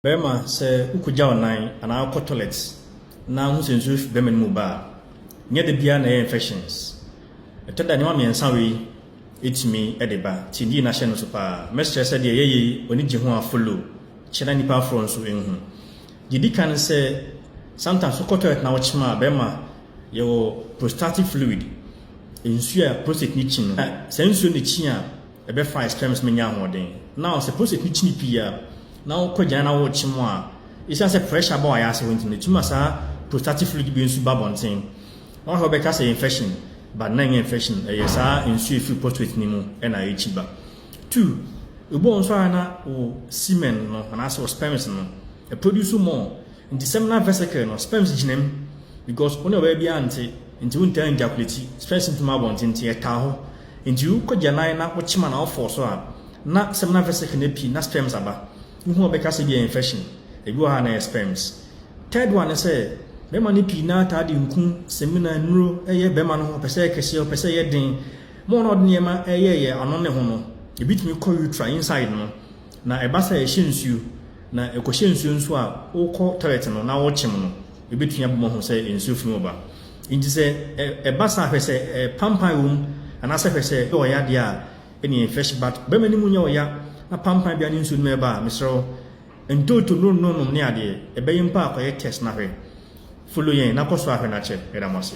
Barima, sɛ wokogya wo nan anaa wokɔ tɔlɛt na wohu sɛ nsuo refi barima no mu ba a, nyɛ da biara na ɛyɛ infections. Ɛtɔ da a nneɛma mmiɛnsa wei tumi de ba, nti yie na hyɛ no so paa. Mɛsrɛ sɛ deɛ ɛyɛ yei w'ani gye ho a follow, kyɛ na nnipa aforɔ nso nhu. Deɛ ɛdi kan ne sɛ, sometimes wokɔ tɔlɛt na wokyem a, barima yɛwɔ prostatic fluid, nsuo a prostate no kyi no, saa nsuo no kyi a, Ɛbɛfa a sperms no nya ahoɔden. Now sɛ prostate no kyini pii a na wokɔ agyanan na worekye mu a, esiane sɛ pressure ba w'ayase hɔ nti no, etumi ma saa prostatic fluid bi nso ba abɔnten. Na wohwɛ a wobɛka sɛ infection, but na ɛnyɛ infection, ɛyɛ saa nsu a efiri prostate no mu na ɛkyi ba. Two, ebu a nso a na wo semen no anaasɛ wo sperms no, ɛproduce more. Nti sɛm na vesicle no sperms gyina mu because wone ɔbaa biara nte nti wontaa njakuleti sperms nfi ma abɔnten nti ɛtaa hɔ nti wo kɔ gyanan na wo kyema na wo fɔɔ so a na sɛm na vesicle no api na sperms aba wohu a wobɛka sɛ ebi yɛ infection ebi wɔ hɔ a na ɛyɛ sperms Third one ne sɛ bɛma no pii naa taa de nku semina nnuro ɛyɛ bɛma no ho ɔpɛ sɛ ɛyɛ kɛseɛ ɔpɛ sɛ ɛyɛ den mo a na ɔde nneɛma ɛyɛ yɛ ano ne ho no ebi tumi kɔ utra inside no Na ɛba sɛ ɛhyɛ nsuo na ɛkɔhyɛ nsuo nso a, wokɔ toilet no na wokyem no, ɛbɛtumi abɔ mu ahu sɛ nsuo fi mu ba. Nti sɛ ɛba saa hwɛ sɛ pampan wɔ mu anaasɛ hwɛ sɛ ɛyɛ ɔya deɛ a, ɛneɛ fresh but bɛrima no mu nyɛ ɔya na pampan biara ne nsuo no mu ɛba a, mesrɛ wo ntoto no no nom ne adeɛ, ɛbɛyɛ mpo a kɔyɛ test na hwɛ. Follow yɛn na kɔ so ara hwɛ na kyɛ. Yɛda mo ase.